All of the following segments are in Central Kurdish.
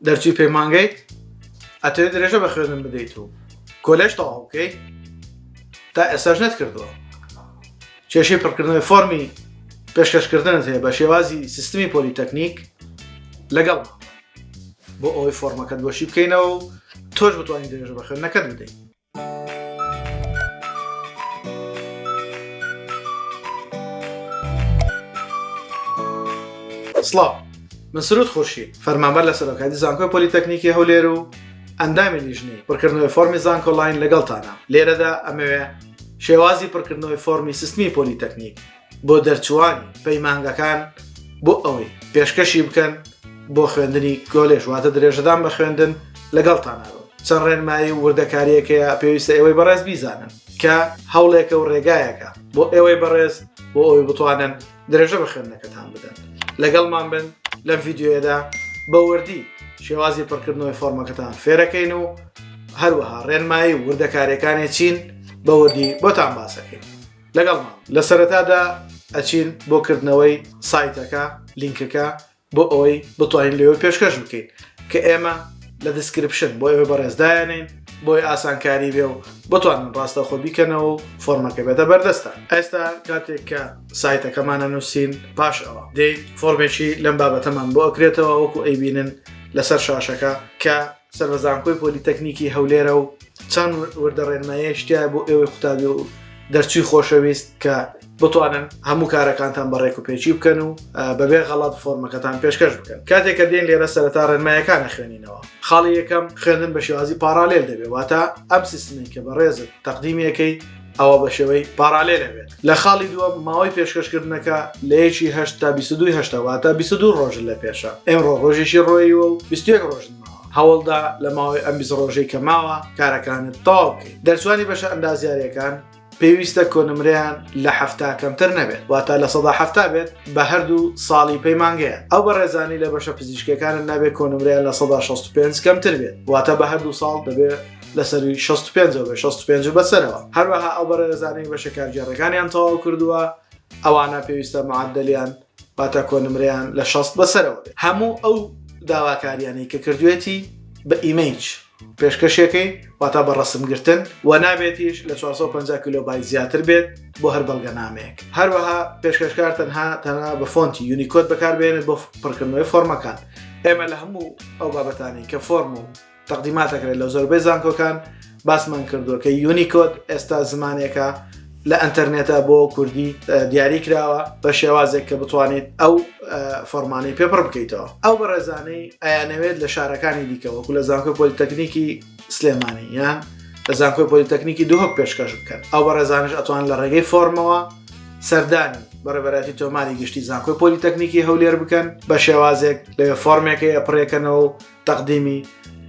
دەرچوی پەیمانگەیت ئەتەوێت درێژە بە خوێندن بدەیت و کۆلێژ تەواو بکەیت تا ئێساش نەت کردووە کێشەی پڕکردنەوەی فۆمی پێشکەشکردنت هەیە بە شێوازی سیستمی پۆلیتەکنیک لەگەڵ بۆ ئەوەی فۆرمەکەت بۆشی بکەینەوە و تۆش بتوانین درێژە بە خوێندنەکەت بدەین سڵاو من سرود خورشی فەرمانبەر لە سەرۆکاتی زانکۆی پۆلیتەکنیکی هەولێر و ئەندامی لیژنی پڕکردنەوەی فۆمی زانکۆلاین لەگەڵتانە لێرەدا ئەمەوێ شێوازی پڕکردنەوەی فۆمی سستمی پۆلیتەکنیک بۆ دەرچووانی پەیمانگەکان بۆ ئەوەی پێشکەشی بکەن بۆ خوێندنی کۆلێژ واتە درێژەدان بە خوێندن لەگەڵتانەوە چەند ڕێنمایی وردەکاریەکەیە پێویستە ئێوەی بەڕێز بیزانن کە هەوڵێکە و ڕێگایەکە بۆ ئێوەی بەڕێز بۆ ئەوی بتوانن درێژە بە خوێندنەکەتان بدەن لەگەڵمان بن لەم ڤیددیوەدا بەوردی شێوازی پڕکردنەوەی فۆرمەکەتان فێرەکەین و هەروەها ڕێنمایی وردەکارەکانی چین بەوردی بۆتان باسەکەین لەگەڵمان لە سەرەتادا ئەچین بۆ کردنەوەی سایتەکە لینکەکە بۆ ئەوەی بتوانین لەوە پێشکەش بکەین کە ئێمە لە دیسکرپشن بۆ ئێوە بەڕێزدایانین بۆی ئاسانکاری بێ و بتوانن ڕاستە خۆ بیکەنەوە و فۆرمەکە بێتە بەردەستە ئێستا کاتێک کە سایتەکەمانە نووسین پاش ئەوە دەی فۆرمێکی لەم بابەتەمان بۆ ئەکرێتەوە وەکو ئەیبینن لەسەر شاشەکە کە سەر بە زانکۆی پۆلیتەکنیکی هەولێرە و چەند وردە ڕێنمایە شتیا بۆ ئێوەی قوتابی و دەرچوی خۆشەویست کە بتوانن هەموو کارەکانتان بە ڕێک و پێچی بکەن و بەبێ غەڵات فۆرمەکەتان پێشکەش بکەن کاتێک کە دێن لێرە سەرتا ڕێنمایەکانە خوێنینەوە خاڵی یەکەم خوێندن بە شێوازی پارالێل دەبێت واتە ئەم سیستمی کە بە ڕێزت تەقدیمیەکەی ئەوە بە شێوەی پارالێل ئەبێت لە خاڵی دووە ماوەی پێشکەشکردنەکە لە یەکی هەشت تا بیست و دووی هەشتا واتە بیست و دوو ڕۆژ لە پێشە ئێمڕۆ ڕۆژێکی ڕۆییوە و بیست و یەک ڕۆژن ماوە هەوڵدا لە ماوەی ئەم بیست ڕۆژەی کە ماوە کارەکانت تەواو بکەیت دەرچوانی بەشە ئەندازیارییەکان پێویستە کۆنمرەیان لە هەفتا کەمتر نەبێت واتە لە سەدا هەفتا بێت بە هەردوو ساڵی پەیمانگەیە ئەو بەڕێزانی لە بەشە پزیشکەکانت نابێت کۆنمرەیان لە سەدا 65 کەمتر بێت واتە بە هەردوو ساڵ دەبێت لەسەرووی شەست و پێنج و بە شەست و پێنج و بەسەرەوە. هەروەها ئەو بەڕێزانەی بەشە کارگێڕەکانیان تەواو کردووە، ئەوانە پێویستە معەدەلیان واتە کۆنمرەیان لە شەست بەسەرەوە بێت. هەموو ئەو داواکارییانەی کە کردووێتی بە ئیمەیج پێشکەشیەکەی واتە بە ڕەسمگرتن و نابێتیش لە چوار سەد و پەنجا کیلۆبایت زیاتر بێت بۆ هەر بەڵگەنامەیەک. هەروەها پێشکەشکار تەنها تەنها بە فۆنتی یونیکۆد بەکاربهێنێت بۆ پڕکردنەوەی فۆرمەکان. ئێمە لە هەموو ئەو بابەتانەی کە فۆرم و. تەقدیمات ئەکرێت لە زۆربەی زانکۆکان باسمان کردووە کە یونیکۆد ئێستا زمانێکە لە ئەتەرنێتە بۆ کوردی دیاری کراوە بە شێوازێک کە بتوانیت ئەو فەرمانەی پێپڕ بکەیتەوە ئەو بەڕێزانەی ئەیانەوێت لە شارەکانی دیکەوە و لە زانکۆ پۆلیتەکنیکی سلێمانی یان لە زانکۆی پۆلیتەکنیکی دوهۆک پێشکەش بکەن ئەو بەڕێزانش ئەتوان لە ڕێگەی فۆرمەوە سەردانی بەڕێبەراتی تۆماری گشتی زانکۆی پۆلیتەکنیکی هەولێر بکەن بە شێوازێک لەوێ فۆرمێکی ئەپڕێکەنەوە تەقدیمی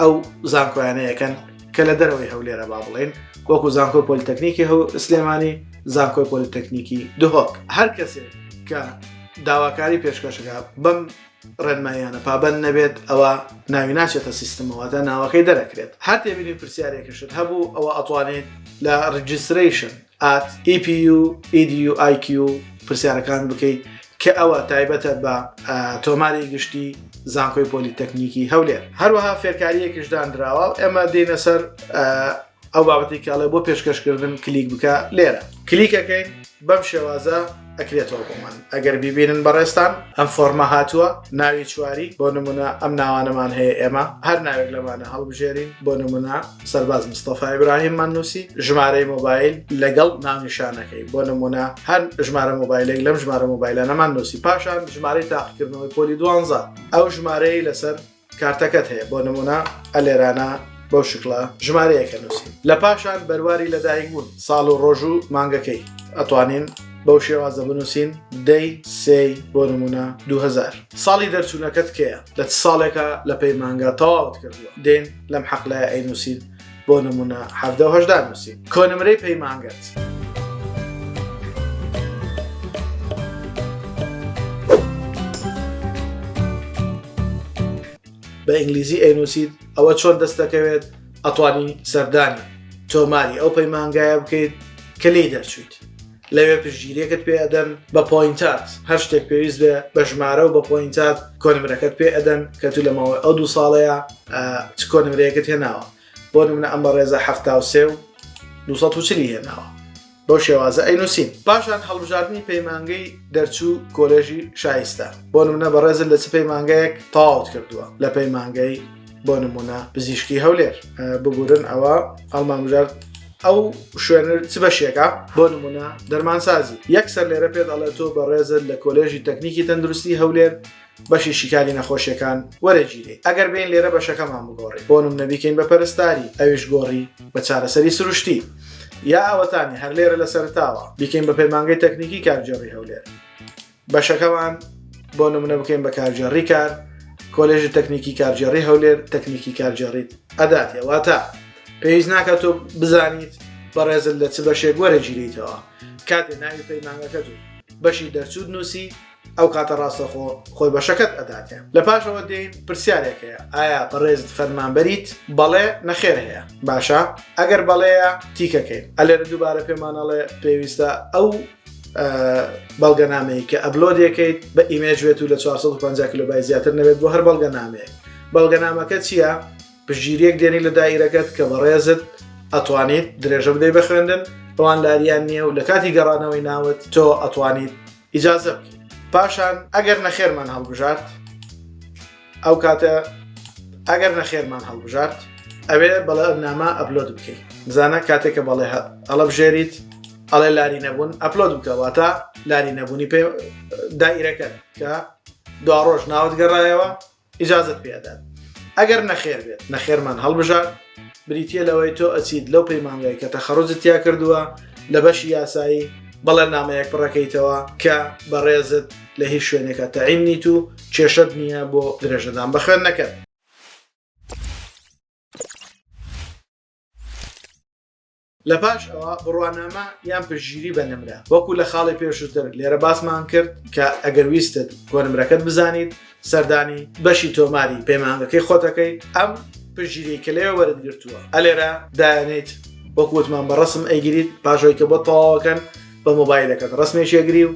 ئەو زانکۆیانەیەکەن کە لە دەرەوەی هەولێرە با بڵێن وەکو زانکۆ پۆلیتەکنیکی هەو سلێمانی زانکۆی پۆلیتەکنیکی دهۆک هەر کەسێک کە داواکاری پێشکەشەکە بەم ڕێنمایانە پابند نەبێت ئەوە ناوی ناچێتە سیستمەوەدا ناوەکەی دەرەکرێت هەر تێبینی پرسیارێکشت هەبوو ئەوە ئەتوانێت لە ڕجیستریشن at epueduiq پرسیارەکان بکەیت کە ئەوە تایبەتە بە تۆماری گشتی زانکۆی پۆلیتەکنیکی هەولێر هەروەها فێرکاریەکیش دانراوە ئێمە دێنە سەر ئەو بابەتی کاڵێ بۆ پێشکەشکردن کلیک بکە لێرە کلیکەکەین بەم شێوازە ئەکرێتەوە بۆمان ئەگەر بیبینن بەڕێستان ئەم فۆرمە هاتووە ناوی چواری بۆ نمونە ئەم ناوانەمان هەیە ئێمە هەر ناوێک لەمانە هەڵبژێرین بۆ نمونە سەرباز مستەفای براهیممان نووسی ژمارەی مۆبایل لەگەڵ ناونیشانەکەی بۆ نمونە هەر ژمارە مۆبایلێک لەم ژمارە مۆبایلانەمان نووسی پاشان ژمارەی تاقیکردنەوەی پۆلی دوانزە ئەو ژمارەی لەسەر کارتەکەت هەیە بۆ نمونە ئەلێرانە بەو شکڵە ژمارەیەکە نووسی لە پاشان بەرواری لەدایک بوون ساڵ و ڕۆژ و مانگەکەی ئەتوانین بەو شێوازە بنووسین دەی سێ بۆ نمونە 2000 ساڵی دەرچوونەکەت کەیە لە ساڵێکە لە پەیمانگا تەواوت کردووە دێن لەم حەقلای ئەینووسین بۆ نمونە حەفدە و هەشدا نووسی کۆنمرەی پەیمانگەت. بە ئینگلیزی ئەینوسیت ئەوە چۆن دەست دەکەوێت ئەتوانی سەردانی تۆماری ئەو پەیمانگایە بکەیت کە لی دەرچویت لەوێ پشتگیریەکەت پێ ئەدەن بە پۆینتات هەر شتێک پێویست بێ بە ژمارە و بە پۆینتات کۆنمرەکەت پێ ئەدەن کە تو لە ماوەی ئەو دوو ساڵەیە چ کۆنمرەیەکت هێناوە بۆ منە ئەم بە ڕێزە هەفتا و سێ و 240 هێناوە بۆ شێوازە ئەینوسین پاشان هەڵبژاردننی پەیمانگەی دەرچوو کۆلێژی شایستە بۆ منە بە ڕێزە لە چ پەیمانگەیەک تاوت کردووە لە پەیمانگەی بۆ نمونە پزیشکی هەولێر بگورن ئەوە هەڵمامژارد ئەو شوێنر چ بەشێکە بۆ نمونە دەرمانسازی یەک سەر لێرە پێ دەڵێت تۆ بەڕێزت لە کۆلێژی تەکنیکی تەندروستی هەولێر بەشی شیکاری نەخۆشیەکان وەرەگیری ئەگەر بین لێرە بەشەکەمان بگۆڕی بۆنم نەبیکەین بە پەرستاری ئەویش گۆڕی بە چارەسەری سروشتی یا ئەوەتانی هەر لێرە لە سەرتاوە بیکەین بە پەیمانگەی تەکنیکی کارگێڕی هەولێر بەشەکەمان بۆ نمونە بکەین بە کارگێڕی کار کۆلێژی تەکنیکی کارگێڕی هەولێر تەکنیکی کارگێڕیت ئەداتێ واتە پێویست ناکە تۆ بزانیت بەڕێزل لە چ بەشێک وەرە گیریتەوە کاتێ ناوی پەیمانەکەت و بەشی دەرچوود نووسی ئەو کاتە ڕاستەخۆ خۆی بەشەکەت ئەداتێ لە پاشەوە دێین پرسیارێک هەیە ئایا بەڕێزت فەرمانبەریت بەڵێ نەخێر هەیە باشە ئەگەر بەڵەیە تیکەکەین ئەلێرە دووبارە پێمانەڵێ پێویستە ئەو بەڵگەنامەیە کە ئەبلۆدەکەیت بە ئیمێج بێت و لە 450 کللوبای زیاتر نەبێت بۆ هەر بەڵگەنامەیە بەڵگەنامەکە چییە پژگیریەک دێنی لە دایرەکەت کە بەڕێزت ئەتوانیت درێژە بدەی بە خوێندن بەڵان لاریان نییە و لە کاتی گەڕانەوەی ناوت تۆ ئەتوانیت ئیجازە بکەیت پاشان ئەگەر نەخێرمان هەڵبژارد ئەو کاتە ئەگەر نەخێرمان هەڵبژارد ئەوێ بەڵێ نامە ئەپلۆد بکەیت بزانە کاتێک کە بەڵێ ئەڵە بژێریت ئەڵێ لاری نەبوون ئەپلۆد بکەواتە لاری نەبوونی پێ دایرەکە کە دو ڕۆژ ناوت گەڕایەوە ئیجازت پێدات ئەگەر نەخێر بێت نەخێرمان هەڵبژار بریتیە لەوەی تۆ ئەچیت لەو پەیمانگای کە تەخەڕوجت تیا کردووە لە بەشی یاسایی بەڵێننامەیەک پڕەکەیتەوە کە بەڕێزت لە هیچ شوێنێکا تەعین نیت و کێشەت نییە بۆ درێژەدان بە خوێندنەکەت. لە پاش ئەوە بڕوانامە یان پشتگیری بە نمرە وەکو لە خاڵی پێشووتر لێرە باسمان کرد کە ئەگەر ویستت کۆ نمرەکەت بزانیت سەردانی بەشی تۆماری پەیمانگەکەی خۆتەکەی ئەم پشتگیری کە لێوە وەرت گرتووە ئەلێرە دایانیت وەکوتمان بە ڕسم ئەیگریت پاشەوەی کە بۆ تەواوەکەن بە مۆبایلەکەت ڕسمێکێگری و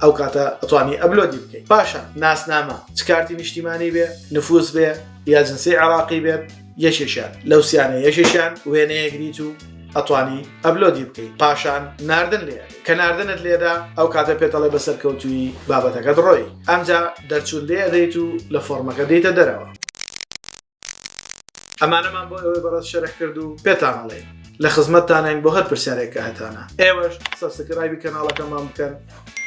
ئەو کاتە ئەتوانی ئەبلۆدی بکەیت پاشە ناسنامە چ کارتی نیشتیمانی بێ نفوس بێ یا جنسی عراقی بێت یەکێکیان لەو سیانە یەکێکیان وێنەیەگریت و ئەتوانی ئەبلۆدی بکەیت پاشان ناردن لێ کە ناردنت لێدا ئەو کاتە پێتەڵێ بە سەرکەوتوی بابەتەکە دڕۆی ئەمجا دەرچوون لێ دەیت و لە فۆرمەکە دیتە دەرەوە ئەمانەمان بۆ ئەوەی بەڕێز شەرح کرد و پێتانڵێ لە خزمەتتانین بۆ هەر پرسیارێک کە هەتانە ئێوەش سەسکرایبی کەناڵەکەمان بکەن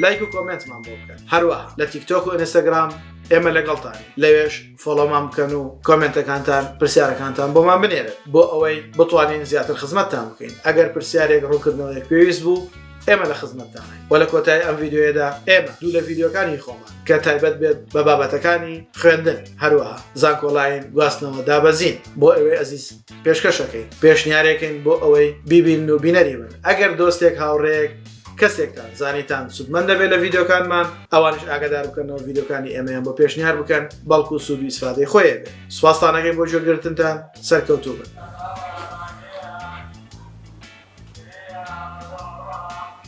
لایک و کۆمنتمان بۆ بکەن هەروە لە تیکتۆک و ئەنستاگرام ئێمە لەگەڵتان لەوێش فۆڵۆمان بکەن و کۆمنتەکانتان پرسیارەکانتان بۆمان بنێرن بۆ ئەوەی بتوانین زیاتر خزمەتتان بکەین ئەگەر پرسیارێک ڕوونکردنەوەیەک پێویست بوو ئێمە لە خزمەتدان و لە کۆتای ئەم یددیوەیەدا ئێمە دوو لە یددیوەکانی خۆمان کە تایبەت بێت بە بابەتەکانی خوێندن هەروەها زانکۆلاین گواستنەوە دابەزین بۆ ئەوێ ئەزیز پێشکەشەکەی پێشنیارێکین بۆ ئەوەی بیبین و بینەری بن ئەگەر دۆستێک هاوڕێک کەسێکتان زانیتان سودمەند دەبێت لە ڤیددیوکانمان ئەوانش ئاگدار بکەنەوە ڤیددیوکانی ئێمەیان بۆ پێشنیار بکەن بەڵکو و سوود ویسفادەی خۆیە سوپاسانەکەی بۆ جۆگرتنتان سەرکەوتوو بن.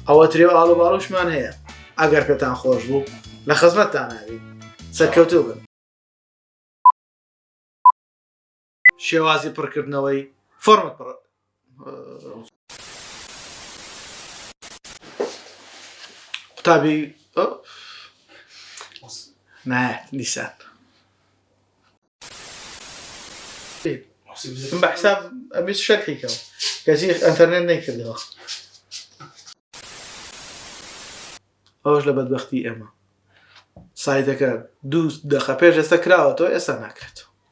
ئەوە ترێ و ئاڵوباڵوشمان هەیە ئەگەر پێتان خۆش بوو لە خزمەتتان ناوی سەرکەوتوو بن. شێوازی پڕکردنەوەی فۆرمت پڕ قوتابی نایەت دیسان بە حساب ئەبیست شەرحی کەم کەچی ئەتەرنێت نەیکردەوە ئەوش لە بەدبختی ئێمە سایتەکە دوو دەخە پێش ئێستا کراوەتەوە ئێستا ناکرێتەوە